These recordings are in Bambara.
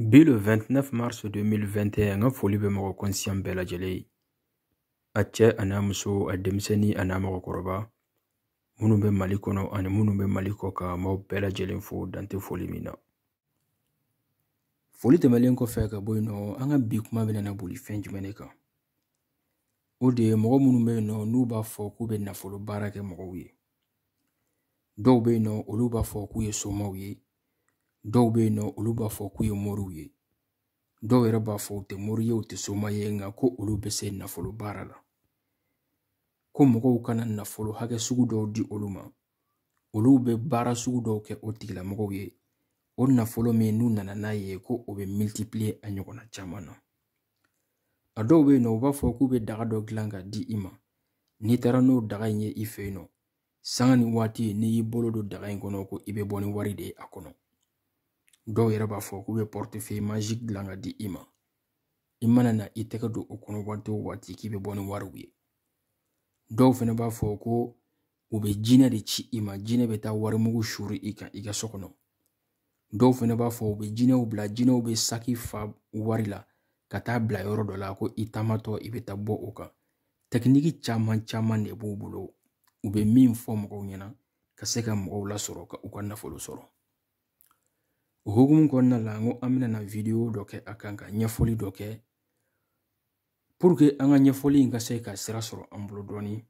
Bi le 29 mars 2021 an ka foli bɛ mɔgɔ kɔnsiyan bɛɛ lajɛlen ye a cɛ an'a muso a denmisɛnnin an'a mɔgɔkɔrɔba minnu bɛ mali kɔnɔ ani minnu bɛ mali kɔkan n b'aw bɛɛ lajɛlen fo dan tɛ foli min na foli tɛmɛlen kɔfɛ ka bɔ yen nɔ an ka bi kuma bɛna na boli fɛn jumɛn de kan o de ye mɔgɔ minnu bɛ yen nɔ n'u b'a fɔ k'u bɛ nafolo baara kɛ mɔgɔw ye dɔw bɛ yen nɔ olu b'a fɔ k'u ye somaw ye dɔw bɛ yen nɔ olu b'a fɔ k'u ye moriw ye dɔw yɛrɛ b'a fɔ u tɛ mori ye u tɛ soma ye nka ko olu bɛ se nafolo baara la ko mɔgɔw ka na nafolo hakɛ sugu dɔw di olu ma olu bɛ baara sugu dɔw kɛ o tigilamɔgɔw ye o nafolo min n'u nana n'a ye ko o bɛ multiplier a ɲɔgɔnna caman na a dɔw bɛ yen nɔ u b'a fɔ k'u bɛ daga dɔ dilan ka di i ma n'i taara n'o daga in ye i fɛ yen nɔ sanga ni waati n'i y'i bolo don daga in kɔnɔ ko i bɛ bɔ ni wari de ye a kɔnɔ dɔw yɛrɛ b'a fɔ k'u bɛ portefeuille magique dilan ka di i ma i mana na i tɛgɛ don o kɔnɔ waati o waati k'i bɛ bɔ ni wariw ye dɔw fana b'a fɔ ko u bɛ jinɛ de ci i ma jinɛ bɛ taa warimugu suuru i kan i ka so kɔnɔ dɔw fana b'a fɔ u bɛ jinɛw bila jinɛw bɛ saki fa wari la ka taa bila yɔrɔ dɔ la ko i taamatɔ i bɛ taa bɔ o kan tɛkiniki caman caman de b'u bolo u bɛ min fɔ mɔgɔw ɲɛna ka se ka mɔgɔw lasɔrɔ ka u ka nafolo sɔrɔ o hukumu kɔnɔna la n ko an bɛna na vidéo dɔ kɛ a kan ka ɲɛfɔli dɔ kɛ pour que an ka ɲɛfɔli in ka se ka sira sɔrɔ an bolo dɔɔni n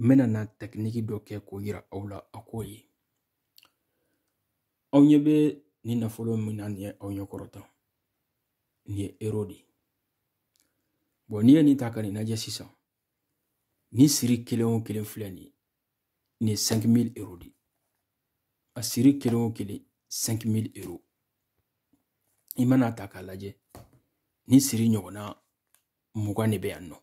bɛna na tɛkiniki dɔ kɛ k'o yira aw la a k'o ye aw ɲɛ bɛ nin nafolo min na nin ye aw ɲɛ kɔrɔ tan nin ye euro de ye bɔn n'i ye nin ta ka nin lajɛ sisan nin siri kelen o kelen filɛ nin ye nin ye 5000 euro de ye a siri kelen o kelen 5000 euro i mana ta k'a lajɛ nin siri ɲɔgɔnna mugan de bɛ yan nɔ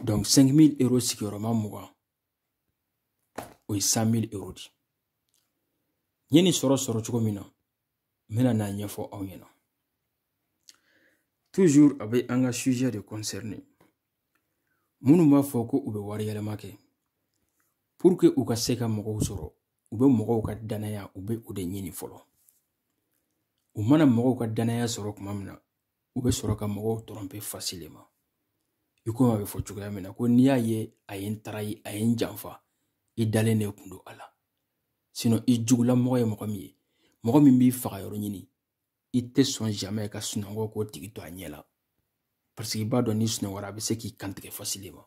donc 5000 euro sigiyɔrɔma mugan o ye 100000 euro de ye n ye nin sɔrɔ sɔrɔ cogo min na n bɛna n'a ɲɛfɔ aw ɲɛna toujours a bɛ an ka sujet de concerner minnu b'a fɔ ko u bɛ wari yɛlɛma kɛ pour que u ka se ka mɔgɔw sɔrɔ u bɛ mɔgɔw ka danaya u bɛ o de ɲini fɔlɔ u mana mɔgɔw ka danaya sɔrɔ tuma min na u bɛ sɔrɔ ka mɔgɔw tromper facilement i komi a bɛ fɔ cogoya min na ko n'i y'a ye a ye n trahi a ye n janfa i dalen de kun don a la sinon i jugulamɔgɔ ye mɔgɔ min ye mɔgɔ min b'i faga yɔrɔ ɲini i tɛ sɔn jamɛ ka sunɔgɔ k'o tigi to a ɲɛ la paseke i b'a dɔn n'i sunɔgɔra a bɛ se k'i kantigɛ fasileman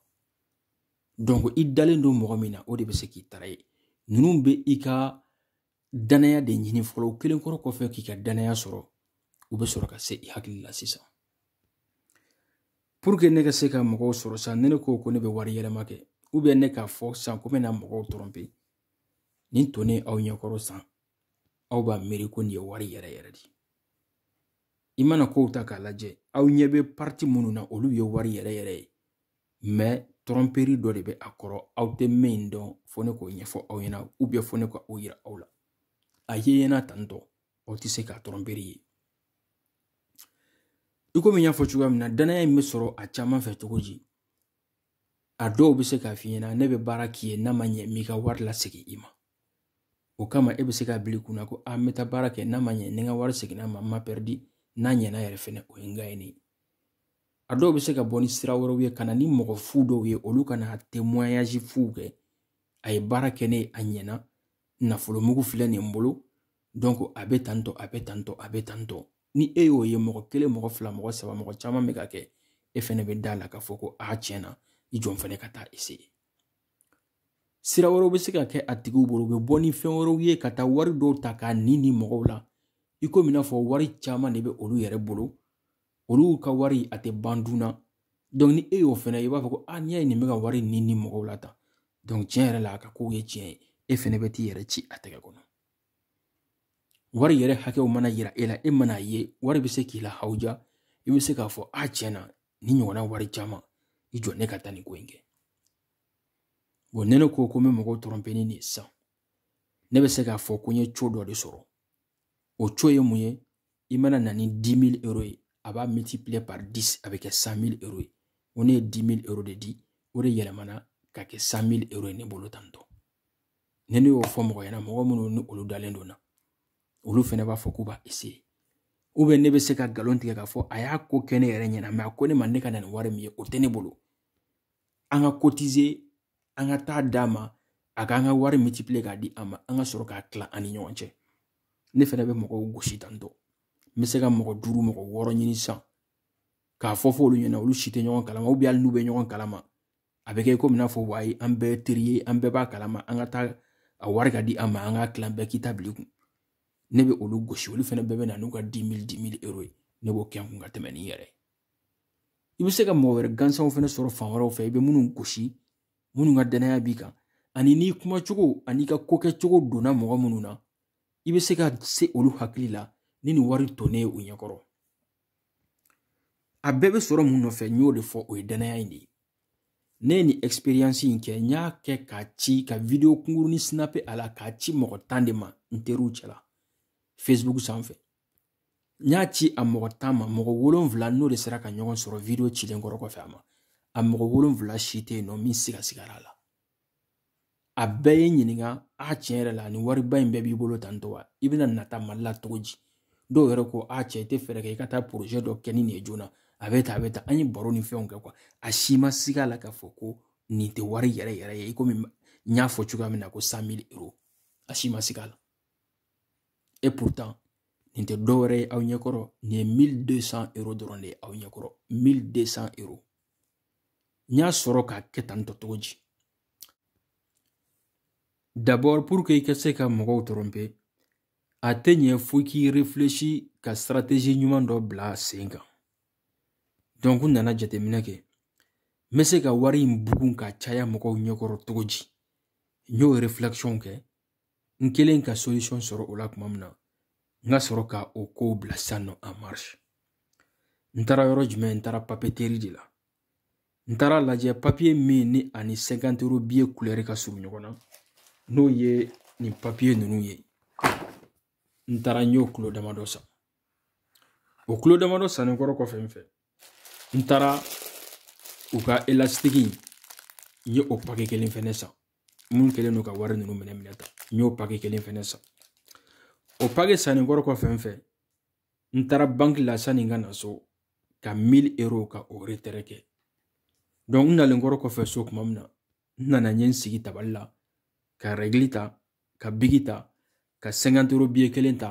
donc i dalen don mɔgɔ min na o de bɛ se k'i tarayi ninnu bɛ i ka danaya de ɲini fɔlɔ u kɛlen kɔrɔ kɔfɛ k'i ka danaya sɔrɔ u bɛ sɔrɔ ka se i hakili la sisan pour que ne ka se ka mɔgɔw sɔrɔ sisan ni ne ko ko ne bɛ wari yɛlɛma kɛ ou bien ne k'a fɔ sisan ko n bɛna mɔgɔw tɔrɔnpe nin tonnen aw ɲɛkɔrɔ sisan aw b'a miiri ko nin ye wari yɛrɛ yɛrɛ de i mana kow ta k'a lajɛ aw ɲɛ bɛ parti minnu na olu ye wari yɛrɛ yɛrɛ ye mɛ tɔrɔnperi dɔ de bɛ a kɔrɔ aw tɛ min dɔn fo ne k'o ɲɛfɔ aw ɲɛna u bɛ fo ne ka o yira aw la a ye ɲɛna tantɔ aw tɛ se ka tɔrɔnperi ye i komi n y'a fɔ cogoya min na danaya in bɛ sɔrɔ a caman fɛ cogo di a dɔw bɛ se k'a f'i ɲɛna ne bɛ baara k'i ye n'a ma ɲɛ n b'i ka wari lasegin i ma o kama e bɛ se k'a bil'i kun na ko a n bɛ taa baara kɛ n'a ma ɲɛ ni n ka wari seginna n ma n ma pɛridi n'a ɲɛna yɛrɛ fɛnɛ o ye n gaɲenen ye a dɔw bɛ se ka bɔ ni sira wɛrɛw ye ka na ni mɔgɔ fu dɔw ye olu ka na temoɲazi fuw kɛ a ye baara kɛ n ye a ɲɛna nafolo mugu filɛ nin n bolo donc a bɛ tantɔ a bɛ tantɔ a bɛ tantɔ ni e y'o ye mɔgɔ kelen mɔgɔ fila mɔgɔ saba mɔgɔ caman bɛ k'a kɛ e fɛnɛ bɛ da a la k'a fɔ ko a tiɲɛ na i jɔ n fɛnɛ ka taa ese sira wɛrɛw bɛ se ka kɛ a tigiw bolo u bɛ bɔ ni fɛn wɛrɛw ye ka taa wari dɔw ta k'a ni ni mɔgɔw la i komi i n'a fɔ wari caman de bɛ olu yɛrɛ bolo olu ka wari a tɛ ban dun na donc ni e y'o fɛnɛ i b'a fɔ ko a n'i y'a ye nin bɛ ka wari ni ni mɔgɔw la tan donc tiɲɛ yɛrɛ la a ka kow ye tiɲɛ ye e fɛnɛ bɛ t'i yɛrɛ ci a tɛgɛ kɔnɔ wari yɛrɛ hakɛw mana yira e la e mana a ye wari bɛ se k'i la hawuja i bɛ se k'a fɔ a tiɲɛ na nin ɲɔgɔnna wari caman i jɔ ne ka taa nin ko in kɛ bɔn ni ne ko ko n bɛ mɔgɔw tɔrɔnpe ni nin sisan ne bɛ se k'a fɔ ko n ye co dɔ de sɔrɔ o co ye mun ye i mana na ni 10 000 euro ye a b'a multiplier par 10 a bɛ kɛ 100 000 euro ye o ne ye 10 000 euro de di o de yɛlɛmana ka kɛ 100 000 euro ye ne bolo tantɔ ni ne y'o fɔ mɔgɔw ɲɛna mɔgɔ minnu ni olu dalen don n na olu fɛnɛ b'a fɔ k'u b'a ese u bɛ ne bɛ se ka nkalon tigɛ k'a fɔ a y'a ko kɛ ne yɛrɛ ɲɛna mɛ a ko ne ma ne ka na ni wari min ye o tɛ ne bolo an ka kotize an ka taa d'a ma a k'an ka wari multiplier k'a di an ma an ka sɔrɔ k'a tila an ni ɲɔgɔn cɛ ne fɛnɛ bɛ mɔgɔw gosi tantɔ n bɛ se ka mɔgɔ duuru mɔgɔ wɔɔrɔ ɲini sisan k'a fɔ fɔ olu ɲɛna olu si tɛ ɲɔgɔn kalama ubiyɛn hali n'u bɛ ɲɔgɔn kalama a bɛ kɛ komi n'a fɔ wayi an bɛɛ teri ye an bɛɛ b'a kalama an ka taa a wari k'a di an ma an k'a tilan bɛɛ k'i ta bil'i kun ne bɛ olu gosi olu fana bɛɛ bɛ na n'u ka di mili di mili euro ye ne b'o kɛ n kun ka tɛmɛ ni yɛrɛ ye i bɛ se ka mɔgɔ wɛrɛ gansanw fana sɔrɔ fan wɛrɛw fɛ i bɛ minnu gosi minnu ka danaya b'i kan ani n'i kumacogo ani i ka kokɛcogo donna mɔgɔ minnu na i bɛ se ka se olu hakili la ni nin wari tonnen ye u ɲɛkɔrɔ a bɛɛ bɛ sɔrɔ mun nɔfɛ n y'o de fɔ o ye danaya in de ye ne ye nin experience in kɛ n y'a kɛ k'a ci ka video kunkurunin sinape a la k'a ci mɔgɔ tan de ma n teriw cɛla facebook sanfɛ n y'a ci a mɔgɔ tan ma mɔgɔ wolonfila n'o de sera ka ɲɔgɔn sɔrɔ video cilen kɔrɔ kɔfɛ a ma a mɔgɔ wolonfila si tɛ yen nɔ min sigasigara a la a bɛɛ ye n ɲininka a tiɲɛ yɛrɛ la ni wariba in bɛɛ b'i bolo tan tɔ wa i bɛna nata mali la cogo di dɔw yɛrɛ ko a cɛ i tɛ fɛɛrɛ kɛ i ka taa porozɛ dɔ kɛ ni nin ye joona a bɛ taa a bɛ taa an ye baro ni fɛnw kɛ quoi a si ma siga la k'a fɔ ko nin tɛ wari yɛrɛ yɛrɛ ye i komi n y'a fɔ cogoya min na ko san mili euro a si ma siga la et pourtant nin tɛ dɔwɛrɛ ye aw ɲɛkɔrɔ nin ye mili deux cent euro dɔrɔn de ye aw ɲɛkɔrɔ mili deux cent euro n y'a sɔrɔ k'a kɛ tan tɔ cogo di d'abord pour que i ka se ka mɔgɔw tɔrɔnpe a tɛ ɲɛ fo k'i réfléchi ka stratégie ɲuman dɔ bila sen kan donc n nana jateminɛ kɛ n bɛ se ka wari in bugun k'a caya mɔgɔw ɲɛkɔrɔ cogo di n y'o réflexion kɛ n kɛlen ka solution sɔrɔ o la tuma min na n ka sɔrɔ ka o kow bila sisan nɔ en marche n taara yɔrɔ jumɛn n taara papeteri de la n taara lajɛ papiye min ni ani cinquante euro biye kulɛri ka surun ɲɔgɔn na n'o ye nin papiye ninnu ye n taara n y'o kulo damadɔ san o kulo damadɔ sannen kɔrɔ kɔfɛ n fɛ n taara u ka elasitigi n ye o pake kelen fɛnɛ san min kɛlen don ka wari ninnu minɛ minɛ ta n y'o pake kelen fɛnɛ san o pake sannen kɔrɔ kɔfɛ n fɛ n taara banki la sanni n ka na so ka mili euro ka o retɛrɛ kɛ dɔnku n nalen kɔrɔ kɔfɛ so kuma min na n nana n ye n sigi tabali la ka rɛgili ta ka biki ta ka cinquante euro biye kelen ta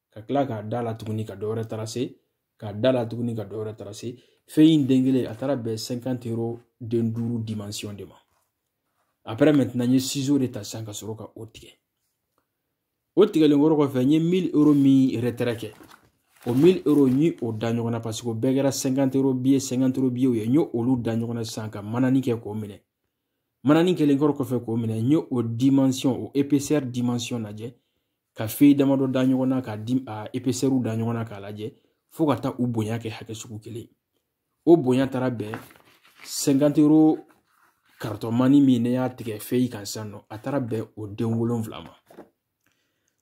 ka kila k'a da la tuguni ka dɔwɛrɛ tarase k'a da la tuguni ka dɔwɛrɛ tarase fɛn in den kelen a taara bɛn cinquante euro den duuru dimension de ma après maintenant n ye ciseau de ta sisan ka sɔrɔ ka o tigɛ o tigɛlen kɔrɔ kɔfɛ n ye mille euro min retɛrɛ kɛ o mille euro n ye o da ɲɔgɔn na paseke o bɛɛ kɛra cinquante euro biye cinquante euro biyew ye n ye olu da ɲɔgɔn na sisan ka manani kɛ k'o minɛ manani kɛlen kɔrɔ kɔfɛ k'o minɛ n ye o dimension o épaisseur dimension lajɛ ka feyi damadɔ da ɲɔgɔn na k'a di a epesɛriw da ɲɔgɔn na k'a lajɛ fo ka taa u bonya kɛ hakɛ sugu kelen o bonya taara bɛn cinquante euro karitɔmani min ne y'a tigɛ feyi kan sisan nɔ a taara bɛn o den wolonfila ma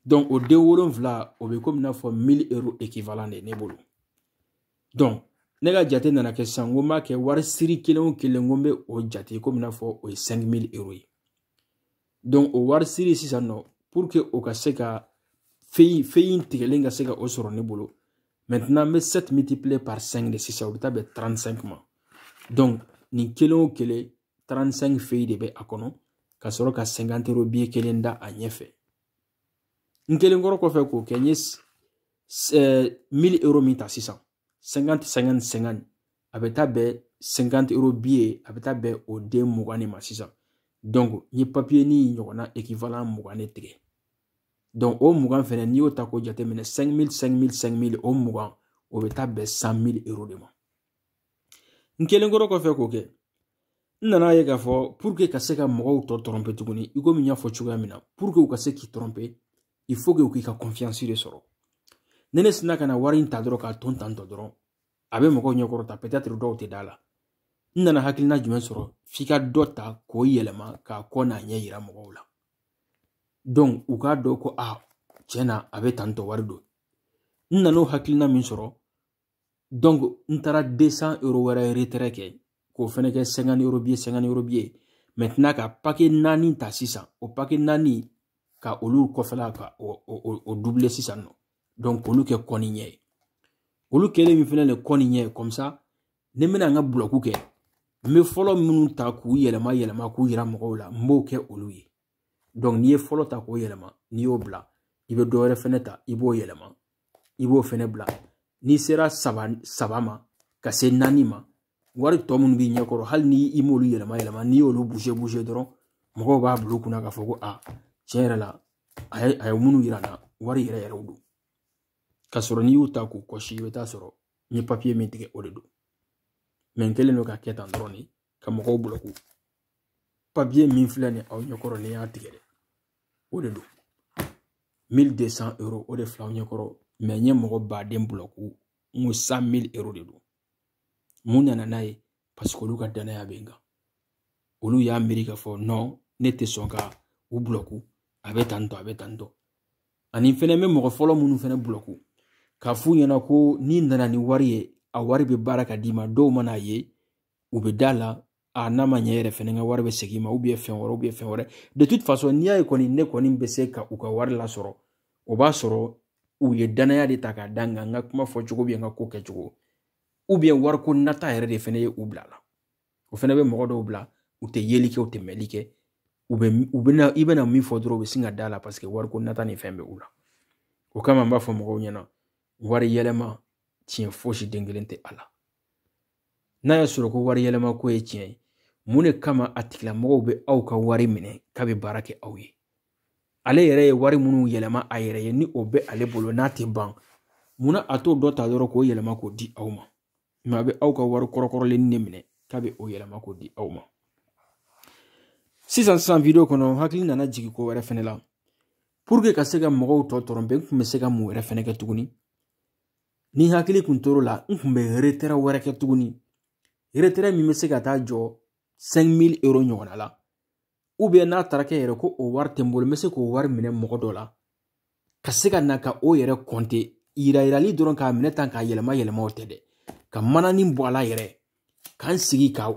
donc o den wolonfila o bɛ komi n'a fɔ mille euro ekivalan de ye ne bolo donc ne ka jate nana kɛ sisan n ko n b'a kɛ wari siri kelen o kelen n ko n bɛ o jate komi n'a fɔ o ye cinq mille euro ye donc o wari siri sisan nɔ pour que o ka se ka feyi feyi tigɛlen ka se ka o sɔrɔ ne bolo maintenant n bɛ 7 multiplier par 5 de sisan o bɛ taa bɛn 35 ma donc nin kelen o kelen 35 feyi de bɛ a kɔnɔ ka sɔrɔ ka 50 euro biye kelen da a ɲɛfɛ n kɛlen kɔrɔ kɔfɛ k'o kɛ n ye 1000 euro min ta sisan senkante senkante senkante a bɛ taa bɛn senkante euro biye a bɛ taa bɛn o den mugan de ma sisan dɔnku n ye papiye nin ɲɔgɔnna ekivalan mugan de tigɛ dɔnku o mugan fɛnɛ n'i y'o ta k'o jateminɛ cinq mille cinq mille cinq mille o mugan o bɛ taa bɛn cent mille euro de ma n kɛlen kɔrɔ kɔfɛ k'o kɛ n nan'a ye k'a fɔ puruke ka se ka mɔgɔw tɔ tɔrɔnpe tuguni i komi n y'a fɔ cogoya min na puruke u ka se k'i tɔrɔnpe il faut que u k'i ka confiance de sɔrɔ ni ne sinna ka na wari in ta dɔrɔn k'a ton tantɔ dɔrɔn a bɛ mɔgɔw ɲɛkɔrɔ tan peut-être dɔw tɛ da a la n nana hakilina jumɛn sɔrɔ f'i ka dɔ ta k'o yɛlɛma k'a kɔ n'a ɲɛ yira mɔgɔw la donc u k'a dɔn ko a tiɲɛ na a bɛ tantɔ wari don n nan'o hakilina min sɔrɔ n taara deux cent euro wɛrɛ retrait kɛ k'o fɛnɛ kɛ cinquante euro biye cinquante euro biye maintenant ka pake naani ta sisan o pake naani ka olu kɔfɛla ka o dubile sisan nɔ dɔnku k'olu kɛ kɔ ni ɲɛ ye olu kɛlen min fɛnɛ le kɔ ni ɲɛ ye comme ça ni n bɛna n ka bulɔku kɛ n bɛ fɔlɔ minnu ta k'u yɛlɛma yɛlɛma k'u yira mɔgɔw la n b'o kɛ olu ye donc n'i ye fɔlɔ ta k'o yɛlɛma n'i y'o bila i bɛ dɔ wɛrɛ fɛnɛ ta i b'o yɛlɛma i b'o fɛnɛ bila n'i sera saba saba ma ka se naani ma wari tɔ minnu b'i ɲɛkɔrɔ hali ni i m'olu yɛlɛma yɛlɛma n'i y'olu buze buze dɔrɔn mɔgɔw b'a bila u kunna k'a fɔ ko a tiɲɛ yɛrɛ la a ye a ye minnu yira an na wari yɛrɛ yɛrɛw don k'a sɔrɔ n'i y'u ta k'u kɔsi i bɛ t'a sɔrɔ n ye papiye min tigɛ o de don mɛ n kɛlen don k'a kɛ tan dɔrɔn de ka mɔgɔw bulɔku papiye min filɛ nin aw ɲɛkɔrɔ ne y'a tigɛ dɛ o de don mille deux cent euro o de filɛ aw ɲɛkɔrɔ mɛ n ye mɔgɔ baden bulɔku n ko cent mille euro de don mun nana n'a ye parce que olu ka danaya bɛ n kan olu y'a miiri k'a fɔ non ne tɛ sɔn ka u bulɔku a bɛ tan tɔ a bɛ tan tɔ ani fɛnɛ bɛ mɔgɔ fɔlɔ minnu fɛnɛ bulɔku k'a f'u ɲɛna ko n'i nana ni wari ye a wari bɛ baara k'a d'i ma dɔw man'a ye u bɛ da la a n'a ma ɲɛ yɛrɛ fɛnɛ n ka wari bɛ segin n ma fɛn wɛrɛ bɛ fɛn wɛrɛ de toute façon n'i y'a ye kɔni ne kɔni bɛ se ka u ka wari lasɔrɔ o b'a sɔrɔ u ye dannaya de ta k'a da n kan n ka kuma fɔcogo bɛ n ka ko kɛcogo wariko nata yɛrɛ de fɛnɛ ye u bila la o fɛnɛ bɛ mɔgɔ dɔw bila u tɛ yeli kɛ u tɛ mɛli kɛ u bɛ u bɛna i bɛna min fɔ dɔrɔn u bɛ sin ka da a la paseke wariko nata ni fɛn bɛ u la o kama n b'a fɔ mɔgɔw ɲɛna wari yɛlɛma tiɲɛ fosi den kelen tɛ a la n'a y'a sɔrɔ ko wari yɛlɛmako ye tiɲɛ ye mun de kama a tigilamɔgɔw bɛ aw ka wari minɛ k'a bɛ baara kɛ aw ye ale yɛrɛ ye wari minnu yɛlɛma a yɛrɛ ye ni o bɛ ale bolo n'a tɛ ban munna a t'o dɔ ta dɔrɔn k'o yɛlɛma k'o di aw ma mɛ a bɛ aw ka wari kɔrɔkɔrɔlen de minɛ k'a bɛ o yɛlɛma k'o di aw ma sisan sisan video kɔnɔ n hakili nana jigin ko wɛrɛ fɛnɛ la puruke ka se ka mɔgɔw tɔ tɔrɔnpe n tun bɛ se ka mun wɛrɛ fɛnɛ kɛ tuguni ni n hakili kun tor'o la n kun bɛ retrait wɛrɛ kɛ tuguni retrait min bɛ se ka taa jɔ 5000 euro ɲɔgɔnna la ou bien n'a taara kɛ yɛrɛ ko o wari tɛ n bolo n bɛ se k'o wari minɛ mɔgɔ dɔ la ka se ka na ka o yɛrɛ kɔnte yirayirali dɔrɔn k'a minɛ tan k'a yɛlɛma yɛlɛma o tɛ dɛ ka mananin bɔ a la yɛrɛ ka n sigi ka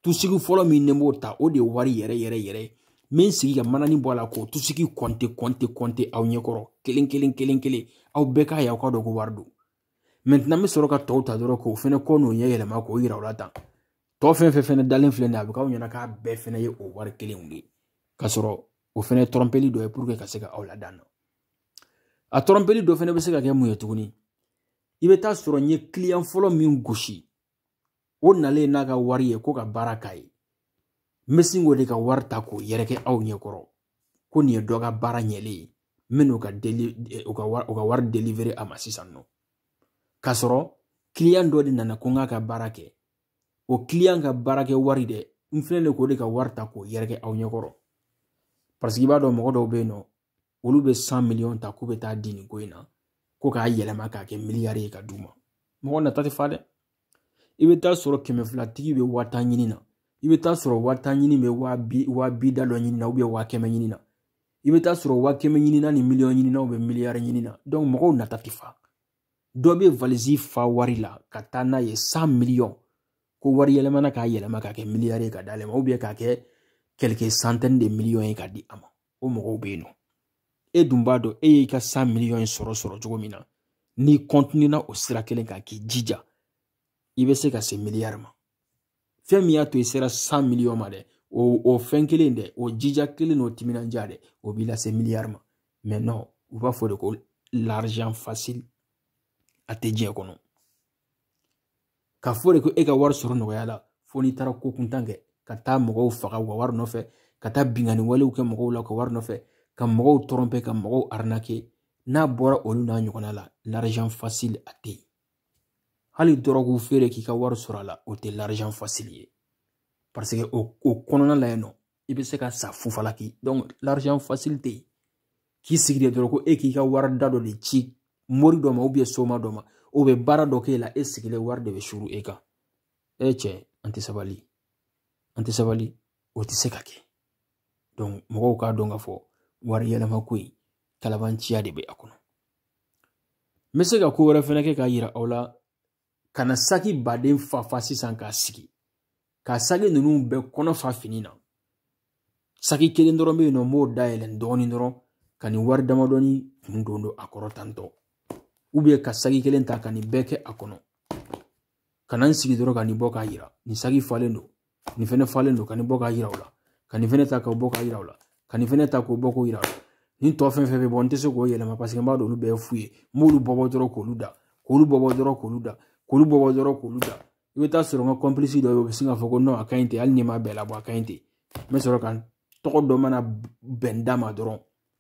tusigi fɔlɔ min ne b'o ta o de ye wari yɛrɛ yɛrɛ yɛrɛ ye n bɛ n sigi ka mananin bɔ a la k'o tusigi kɔnte kɔnte kɔnte aw ɲɛkɔrɔ kelen kelen kelen kelen aw bɛɛ k'a ye aw k'a dɔn ko wari don mɛntinan n bɛ sɔrɔ ka tɔw ta dɔrɔn k'o fɛnɛ kɔ n'o ɲɛ yɛlɛma k'o yira u la tan tɔ fɛn fɛn fɛnɛ dalen filɛ nin ye a bɛ k'aw ɲɛna k'a bɛɛ fɛnɛ ye o wari kelenw de ye k'a sɔrɔ o fɛnɛ tɔrɔnpeli dɔ ye puruke ka se ka aw ladan a tɔrɔnpeli dɔ fɛnɛ bɛ se ka kɛ mun ye tuguni i bɛ taa sɔrɔ n ye kiliyan fɔlɔ min gosi o nalen n'a ka wari ye ko ka baara k'a ye n bɛ sin k'o de ka wari ta k'o yɛrɛkɛ aw ɲɛkɔrɔ ko nin ye dɔ ka baara ɲɛlen ye n bɛna ka deli eh, u ka wari u ka wari delivere a ma sisan nɔ k'a sɔrɔ kiliyan dɔ de nana ko n k'a ka baara kɛ o kiliyan ka baarakɛ wari dɛ n filɛ de k'o de ka wari ta k'o yɛrɛkɛ aw ɲɛkɔrɔ paseke i b'a dɔn mɔgɔ dɔw bɛ yen nɔ olu bɛ san miliyɔn ta k'u bɛ taa di nin ko in na ko k'a yɛlɛma k'a kɛ miliyari ye ka d'u ma mɔgɔ nata tɛ fa dɛ i bɛ taa sɔrɔ kɛmɛ fila tigi bɛ waa tan ɲini na i bɛ taa sɔrɔ waa tan tigi bɛ waa bi waa bi da dɔ ɲini na waa kɛmɛ ɲini na i bɛ taa sɔrɔ waa kɛmɛ ɲini na ni miliyɔn ɲini na u bɛ miliyari ɲini na mɔgɔw nata tɛ fa dɔ bɛ valisi fa wari la ka taa n'a ye san miliyɔn ko wari yɛlɛmana k'a yɛlɛma k'a kɛ miliyari ye ka d'ale ma k'a kɛ quelques centaines de miliyɔn ye ka di a ma o mɔgɔw bɛ yen nɔ e dun b'a dɔn e y'i ka san miliyɔn in sɔrɔ sɔrɔ cogo min na n'i kɔntinina o sira kelen kan k'i jija i bɛ se ka se miliyari ma fɛn min y'a to i sera san miliyɔn ma dɛ o o fɛn kelen dɛ o jija kelen n'o timinandiya dɛ o b'i lase miliyari ma mɛ nɔ u b'a fɔ de ko l'argent facile a tɛ diɲɛ kɔnɔ k'a fɔ de ko e ka wari sɔrɔ nɔgɔya la fo n'i taara ko kuntan kɛ ka taa mɔgɔw faga u ka wari nɔfɛ ka taa binkanni walew kɛ mɔgɔw la u ka wari nɔfɛ ka mɔgɔw tromper ka mɔgɔw arnaquer n'a bɔra olu n'a ɲɔgɔnna la l'argent facile a tɛ yen hali dɔrɔgu feere k'i ka wari sɔrɔ a la o tɛ l'argent facile ye parce que o kɔnɔna la yen nɔ i bɛ se ka sa fu falaki donc l'argent facile tɛ yen k'i sigi de dɔrɔn ko e k'i ka wari da dɔ de ci mori dɔ ma ou bien soma dɔ ma o bɛ baara dɔ k'e la e sigilen wari de bɛ suuru e kan e cɛ an tɛ sabali an tɛ sabali o tɛ se ka kɛ donc mɔgɔw k'a dɔn k'a fɔ wari yɛlɛma ko in kalabanciya de bɛ a kɔnɔ n bɛ se ka ko wɛrɛ fɛnɛ kɛ k'a yira aw la ka na saki baden fa fa sisan k'a sigi ka saki ninnu bɛɛ kɔnɔ fa fini na saki kelen dɔrɔn bɛ yen nɔ n b'o dayɛlɛ dɔɔnin dɔrɔn ka nin wari damadɔni kun don don a kɔrɔ tantɔ ou bien ka saki kelen ta ka nin bɛɛ kɛ a kɔnɔ ka na n sigi dɔrɔn ka nin bɔ k'a yira nin saki falen don nin fɛnɛ falen don ka nin bɔ k'a yira u la ka nin fɛnɛ ta k'o bɔ k'a yira u la ka nin fɛnɛ ta k'o bɔ k'o yira u la nin tɔ fɛn fɛn bɛ bɔ n tɛ se k'o yɛlɛma paseke n b'a dɔn olu bɛɛ ye fu ye n b'olu bɔbɔ dɔrɔn k'olu da k'olu bɔbɔ dɔrɔn k'olu da k'olu bɔbɔ dɔrɔn k'olu da i bɛ taa sɔrɔ n ka complice dɔ bɛ yen o bɛ sin k'a fɔ ko non a ka ɲi ten hali n'i ma bɛɛ labɔ a ka ɲi ten n bɛ sɔrɔ ka tɔgɔ dɔ mana bɛn n da ma dɔrɔn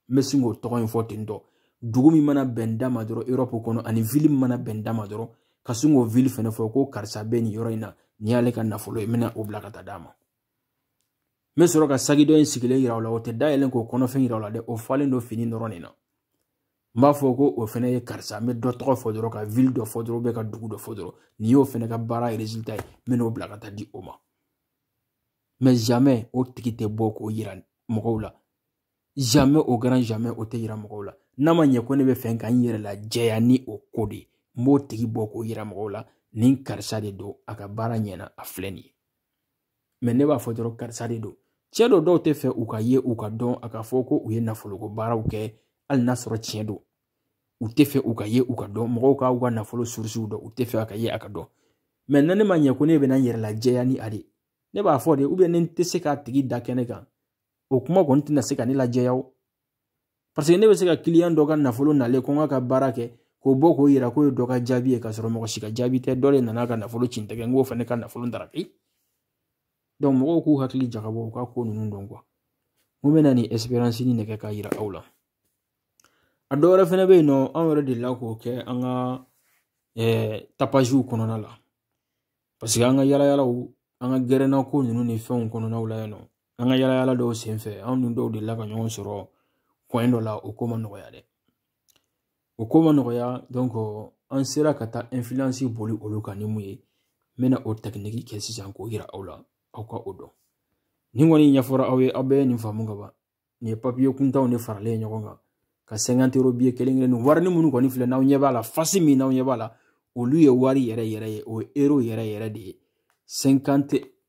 n bɛ sin k'o tɔgɔ in fɔ ten dɔrɔn dugu min mana bɛn n da ma dɔrɔn europe kɔnɔ ani ville min mana bɛn n da ma dɔrɔn ka sin k'o ville fɛnɛ fɔ ko karisa bɛ nin yɔrɔ in na nin y'ale ka nafolo ye n bɛna o bila ka taa d'a ma n bɛ sɔrɔ ka saki dɔ in sigilen yira o la o tɛ dayɛlɛ k'o kɔnɔfɛn yira o la dɛ o falen don fini dɔrɔn de na n b'a fɔ ko o fɛnɛ ye karisa n bɛ dɔ tɔgɔ fɔ dɔrɔn ka ville dɔ fɔ dɔrɔn ka dugu dɔ fɔ dɔrɔn nin y'o fɛnɛ ka baara résultat ye n bɛn'o bila ka taa di o ma mais jamais o tigi tɛ bɔ k'o yira mɔgɔw la jamais au grand jamais o tɛ yira mɔgɔw la n'a ma ɲɛ ko ne bɛ fɛ ka n yɛrɛ lajɛya ni o ko de ye n b'o tigi bɔ k'o yira mɔgɔw la nin karisa de don a ka baara ɲɛna a filɛ nin ye mais ne b'a fɔ dɔrɔn karisa de don cɛ dɔ dɔw tɛ fɛ u ka ye u ka dɔn a ka fɔ ko u ye nafoloko baaraw kɛ hali n'a sɔrɔ tiɲɛ don u tɛ fɛ u ka ye u ka dɔn mɔgɔw k'u ka nafolo surusiw dɔn u tɛ fɛ a ka ye a ka dɔn mais na ne ma ɲɛ ko ne bɛna n yɛrɛ lajɛya ni a de ne b'a fɔ de ou bien ne tɛ se k'a tigi da kɛnɛ kan o kuma kɔni tɛna se ka ne lajɛya o paseke ne bɛ se ka client dɔ ka nafolo nalen ko n k'a ka baara kɛ k'o bɔ k'o yira k'o ye dɔ ka jaabi ye k'a sɔrɔ mɔgɔ si ka jaabi tɛ dɔ de nana ka nafolo ci n tɛgɛ n k'o fana ka nafolo daraki donc mɔgɔw k'u hakili jagabɔ u ka ko ninnu dɔn quoi n ko n bɛna nin expérience nin de kɛ k'a yira aw la a dɔ wɛrɛ fɛnɛ bɛ yen nɔ anw yɛrɛ delila k'o kɛ an ka eh, tapaziw kɔnɔna la parce que an ka yalayalaw an ka gɛrɛnna ko ninnu ni fɛnw kɔnɔnaw la yen nɔ an ka yala yala dɔw senfɛ anw ni dɔw delila ka ɲɔgɔn sɔrɔ kɔɲɛ dɔ la o ko ma nɔgɔya dɛ o ko ma nɔgɔya an sera ka taa influence boli olu kan ni mun ye n bɛna o tɛkiniki kɛ sisan k'o yira aw la aw ka o dɔn nin kɔni ɲɛfɔra aw ye aw bɛɛ ye nin faamu ka ban nin ye papiye kuntanw de faralen ɲɔgɔn kan ka sɛnkantero biye kelen kelen nin warini minnu kɔni filɛ n'aw ɲɛ b'a la fasi min n'aw ɲɛ b'a la olu ye wari yɛrɛ yɛrɛ ye o ye ero yɛrɛ yɛrɛ de ye sɛnkante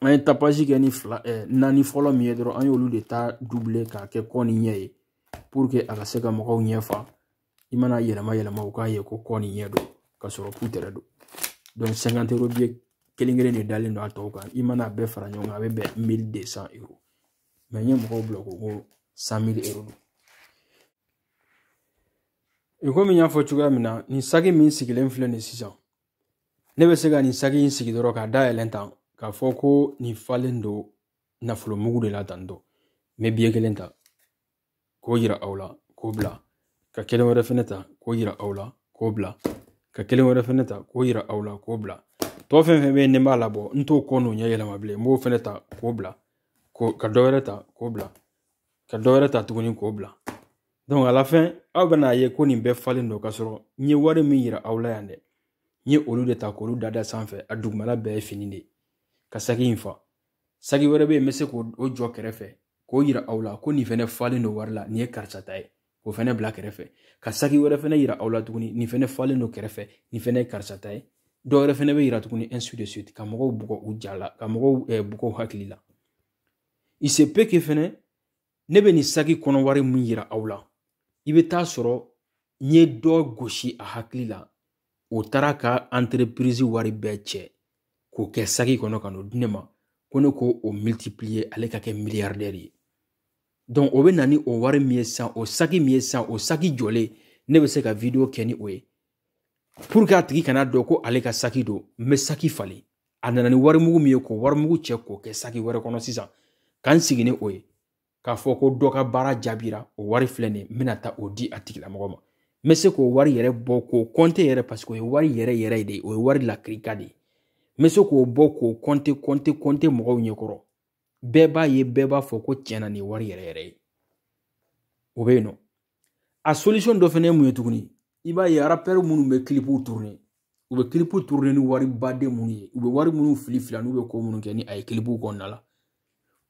an ye tapage kɛ ni fila eh, naani fɔlɔ min ye dɔrɔn an y'olu de ta double k'a kɛ kɔ ni ɲɛ ye pour que a ka se ka mɔgɔw ɲɛ fa i mana yɛlɛma yɛlɛma u k'a ye ko kɔ ni ɲɛ don ka sɔrɔ putɛrɛ don donc cinquante euro biye kelen kelen de dalen don a tɔw kan i mana a bɛɛ fara ɲɔgɔn kan a bɛ bɛn mille deux cent euro mais n ye mɔgɔw bila ko ko cent mille euro don e komi n y'a fɔ cogoya min na nin saki min sigilen filɛ nin sisan ne bɛ se ka nin saki in sigi dɔrɔn k'a dayɛlɛ tan k'a fɔ ko nin falen don nafolo mugu de la tan dɔ n bɛ biye kelen ta k'o yira aw la k'o bila ka kelen wɛrɛ fɛnɛ ta k'o yira aw la k'o bila ka kelen wɛrɛ fɛnɛ ta k'o yira aw la k'o bila tɔ fɛn fɛn bɛ yen ni n b'a labɔ n t'o kɔ n'o ɲɛ yɛlɛma bilen n b'o fɛnɛ ta k'o bila ka dɔ wɛrɛ ta k'o bila ka dɔ wɛrɛ ta tuguni k'o bila donc à la fin aw bɛna a ye ko nin bɛɛ falen don ka sɔrɔ n ye wari min yira aw la yan dɛ n ye olu de ta k'olu dada sanfɛ a dugumala bɛɛ ye fini de ka saki in fa saki wɛrɛ bɛ yen n bɛ se k'o jɔ kɛrɛfɛ k'o yira aw la ko nin fɛnɛ falen don wari la nin ye karisa ta ye k'o fɛnɛ bila kɛrɛfɛ ka saki wɛrɛ fɛnɛ yira aw la tuguni nin fɛnɛ falen don kɛrɛfɛ nin fɛnɛ ye karisa ta ye dɔ wɛrɛ fɛnɛ bɛ yira tuguni ainsi de suite ka mɔgɔw bugɔ u ja la ka mɔgɔw bugɔ hakili la il se peut que fɛnɛ ne bɛ nin saki kɔnɔ wari min yira aw la i bɛ t'a sɔrɔ n ye dɔ gosi a hakili la o taara ka anterepirizi wari bɛɛ cɛ k'o kɛ saki kɔnɔ ka n'o di ne ma ko ne k'o militipliye ale ka kɛ miliyardɛri ye donc o bɛ na ni o wari min ye sisan o saki min ye sisan o saki jɔlen ne bɛ se ka video kɛ ni o ye pour que a tigi kana a dɔn ko ale ka saki don n bɛ saki falen a nana ni warimugu min ye k'o warimugu cɛ k'o kɛ saki wɛrɛ kɔnɔ sisan ka n sigi ni o ye k'a fɔ ko dɔ ka baara jaabira o wari filɛ nin ye n bɛna taa o di a tigilamɔgɔ ma n bɛ se k'o wari yɛrɛ bɔ k'o kɔnte yɛrɛ paseke o ye wari yɛrɛ yɛrɛ de ye o ye wari lakirika de ye n bɛ se k'o bɔ k'o kɔnte kɔnte kɔnte mɔgɔw ɲɛkɔrɔ bɛɛ b'a ye bɛɛ b'a fɔ ko tiɲɛna nin ye wari yɛrɛ yɛrɛ ye o bɛ yen nɔ a solution dɔ fɛnɛ ye mun ye tuguni i b'a ye arapɛri minnu bɛ kilipuw turune u bɛ kilipu turune ni wari baden minnu ye u bɛ wari minnu fili fili n'u bɛ ko minnu kɛ ni a ye kilipuw kɔnɔna la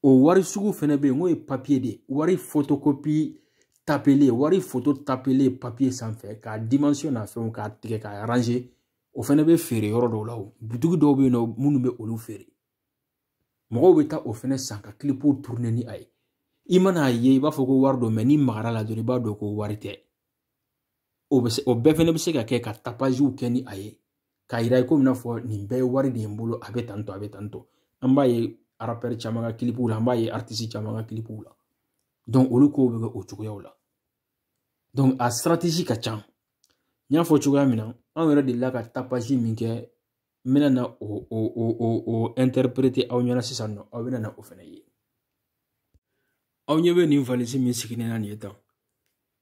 o wari sugu fɛnɛ bɛ yen n'o ye papiye de ye wari fotokopi tapelen wari foto tapelen papiye sanfɛ k'a dimansiyo na fɛnw k'a tigɛ k'a aranze o fɛnɛ bɛ feere yɔrɔ dɔw la o butigi dɔw bɛ yen nɔ minnu bɛ olu feere mɔgɔw bɛ taa o fɛnɛ san ka kilipuw turune ni a ye i mana a ye i b'a fɔ ko wari don mɛ n'i magara a la dɔrɔn i b'a dɔn ko wari tɛ o bɛ se o bɛɛ fɛnɛ bɛ se ka kɛ ka tapaziw kɛ ni a ye k'a yira i komi n'a fɔ nin bɛɛ ye wari de ye n bolo a bɛ tan tɔ a bɛ tan tɔ an b'a ye arapɛri caman ka kilipuw la an b'a ye aritisi caman ka kilipuw la donc olu kow bɛ kɛ o cogoyaw la donc a sitiratezi ka ca n y'a fɔ cogoya min na anw yɛrɛ delila ka tapazi min kɛ n bɛna na o o o o o ɛntɛrɛperete aw ɲɛna sisan nɔ aw bɛna na o fana ye aw ɲɛ bɛ nin valisi min sigilen na nin ye tan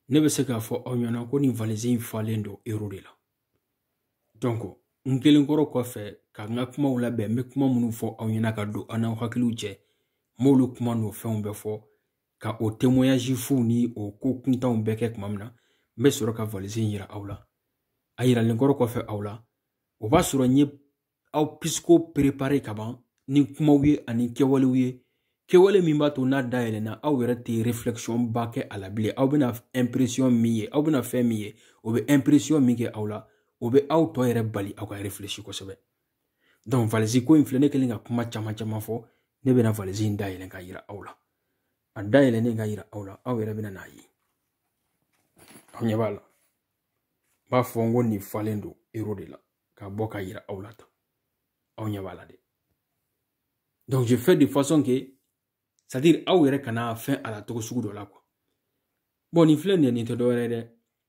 ne bɛ se k'a fɔ aw ɲɛna ko nin valisi in falen don ero de la donc n kɛlen kɔrɔ kɔfɛ ka n ka kumaw labɛn n bɛ kuma minnu fɔ aw ɲɛna ka don aw n'aw hakiliw cɛ n b'olu kuma n'o fɛnw bɛɛ fɔ ka o témoignage fuw ni o ko kuntanw bɛɛ kɛ tuma min na n bɛ sɔrɔ ka valisi in yira aw la a yiralen kɔrɔ kɔfɛ aw la o b'a sɔrɔ n ye aw pisiko perepare ka ban ni kumaw ye ani kɛwalew ye kɛwale min b'a to n'a dayɛlɛna aw yɛrɛ tɛ reflexion ba kɛ a la bilen aw bɛna impression min ye aw bɛna fɛn min ye o bɛ impression min kɛ aw la o bɛ aw tɔ yɛrɛ bali aw ka reflechi kosɛbɛ donc valisi ko in filɛ ne kɛlen ka kuma caman caman fɔ ne bɛna valisi in dayɛlɛn ka yira aw la a dayɛlɛnnen ka yira aw la aw yɛrɛ bɛna n'a ye aw ɲɛ b'a la n b'a fɔ n ko nin falen don ero de la ka bɔ ka yira aw la tan aw ɲɛ b'a la dɛ donc je fais de façon que c'est à dire aw yɛrɛ kana fɛn a la cogo sugu dɔ la quoi bon nin filɛ nin ye nin tɛ dɔwɛrɛ ye dɛ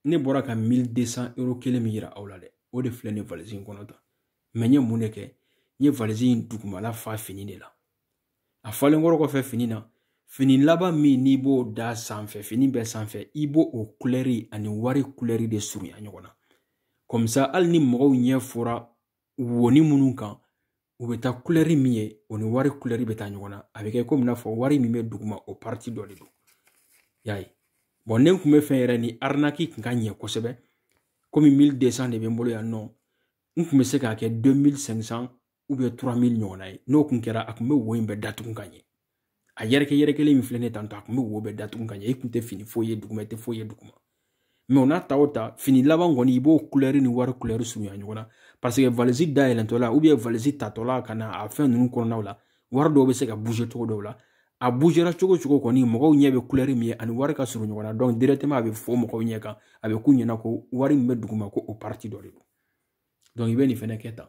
ne bɔra ka 1200 euro kelen min yira aw la dɛ o de filɛ nin valise in kɔnɔ tan mɛ n ye mun de kɛ n ye valise in dugumala fa fini de la a falen kɔrɔ kɔfɛ fini na fini laban min n'i b'o da sanfɛ fini bɛɛ sanfɛ i b'o o kulɛri ani wari kulɛri de surunya ɲɔgɔn na kɔmisa hali ni mɔgɔw ɲɛ fɔra wonin minnu kan u bɛ taa kulɛri min ye o ni wari kulɛri bɛ taa ɲɔgɔn na a bɛ kɛ komi n'a fɔ wari min bɛ duguma o pariti dɔ de don y'a ye bɔn ne tun bɛ fɛn yɛrɛ ni arinaki tun ka ɲɛ kosɛbɛ komi mili desan de bɛ n bolo yan nɔ n tun bɛ se k'a kɛ 2500 ubiyɛn 3000 ɲɔgɔnna ye n'o tun kɛra a tun bɛ wo in bɛɛ datugu ka ɲɛ a yɛrɛkɛ yɛrɛkɛlen min filɛ nin tan tɔ a tun bɛ wo bɛɛ datugu ka ɲɛ i tun tɛ fini foyi ye duguma i tɛ foyi ye duguma mɛ o n'a ta o ta fini laban kɔni i b'o kulɛri ni wari kulɛri surunya ɲɔgɔn na paseke valisi dayɛlɛntɔ la ubiyɛn valisi tatɔ la ka na a fɛn ninnu kɔnɔnaw la wari dɔw bɛ se ka buze cogo dɔw la a buzera cogo cogo kɔni mɔgɔw ɲɛ bɛ kulɛri min ye ani wari ka surun ɲɔgɔn na dɔnku dirɛkitɛma a bɛ fɔ mɔgɔw ɲɛ kan a bɛ k'u ɲɛna ko wari min bɛ duguma ko o pariti dɔ de don dɔnku i bɛ nin fɛnɛ kɛ tan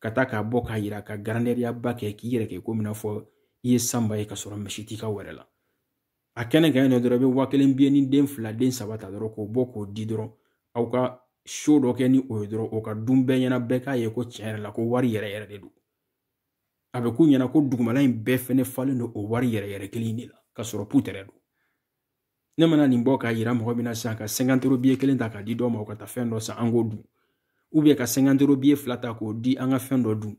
ka taa k'a bɔ k'a yira ka garandɛriyaba kɛ k'i yɛrɛ kɛ komi n'a fɔ i ye sanba ye ka sɔrɔ misi t'i ka wɛrɛ la a kɛnɛ kan yen nɔ dɔrɔn i bɛ waa kelen biye ni den fila den saba ta dɔrɔn k'o bɔ k'o di dɔrɔn aw ka so dɔ kɛ ni o ye dɔrɔn o ka dun bɛɛ ɲɛna bɛɛ k'a ye ko tiɲɛ yɛrɛ la ko wari yɛrɛ yɛrɛ de don a bɛ k'u ɲɛna ko dugumala in bɛɛ fɛnɛ falen don o wari yɛrɛ yɛrɛ kelen de la ka sɔrɔ putɛrɛ don ne mana nin bɔ k'a yira mɔgɔ min na sisan ka sɛnkantoro biye kelen ta k'a di dɔ ma o ka taa fɛn dɔ san an k'o dun ubiyɛn ka sɛnkantoro biye fila ta k'o di an ka fɛn dɔ dun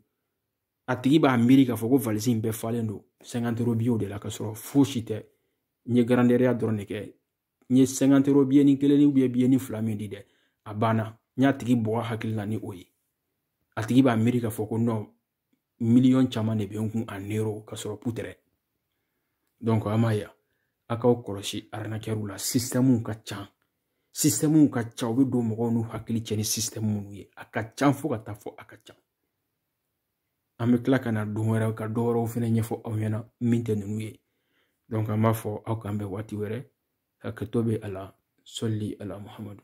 a tigi b'a miiri k'a fɔ ko valisi in bɛɛ falen don sɛnkantoro biyew de la ka sɔrɔ fosi tɛ n ye garandɛriya dɔrɔn de kɛ n ye sɛnkantoro biye ni kelen ni ubiyɛn biye ni fila min di dɛ a banna n y'a tigi bɔgɔ hakili la ni o ye a tigi b'a miiri k'a fɔ ko nɔ miliyɔn caman de bɛ n kun an ero ka sɔrɔ putɛrɛ donc a m'a ye a k'aw kɔlɔsi arinakɛriw la sistɛmuw ka ca sistɛmuw ka ca u bɛ don mɔgɔw n'u hakili cɛ ni sistɛmu minnu ye a ka ca fo ka taa fɔ a ka ca an bɛ tila ka na don wɛrɛ ka dɔ wɛrɛw fana ɲɛfɔ aw ɲɛna min tɛ ninnu ye donc an b'a fɔ aw k'an bɛn waati wɛrɛ hakɛto bɛ a la sɔli ala muhamadu